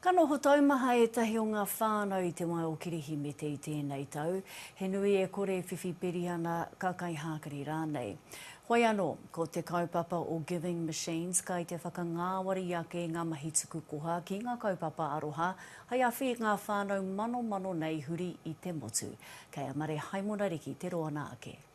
Ka noho taumaha ētahi o ngā whānau i te wā o Kirihimete i tēnei tau, he nui e kore e whiwhi peri ana, ka kaihākari rānei. Whai anō, ko te kaupapa o Giving Machines kai te whakangāwari ake i ngā mahi tuku koha ki ngā kaupapa aroha hai awhi i ngā whānau manomano nei huri i te motu. Kei a Mare Haimona Riki te roana ake.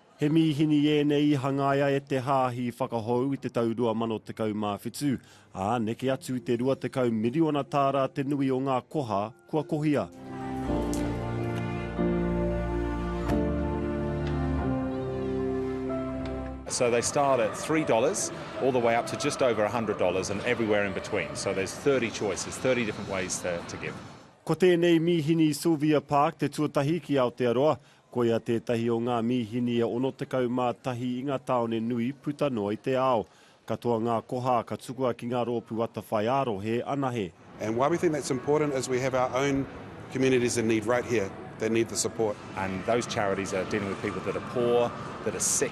He mīhini ēnei i hangaia e te Hāhi Whakahou i te tau 2017, ā, neke atu i te 20 miriona tāra te nui o ngā koha kua kohia. So they start at three dollars all the way up to just over a hundred dollars and everywhere in between. So there's thirty choices, thirty different ways to to give. Ko tēnei mīhini i Sylvia Park te tuatahi ki Aotearoa, Koia tētahi o ngā mīhini e 61 i ngā tāone nui puta noa i te ao. Katoa ngā koha ka tukua ki ngā rōpū atawhai ā-rohe anahe. And why we think that's important is we have our own communities in need right here that need the support. And those charities are dealing with people that are poor, that are sick.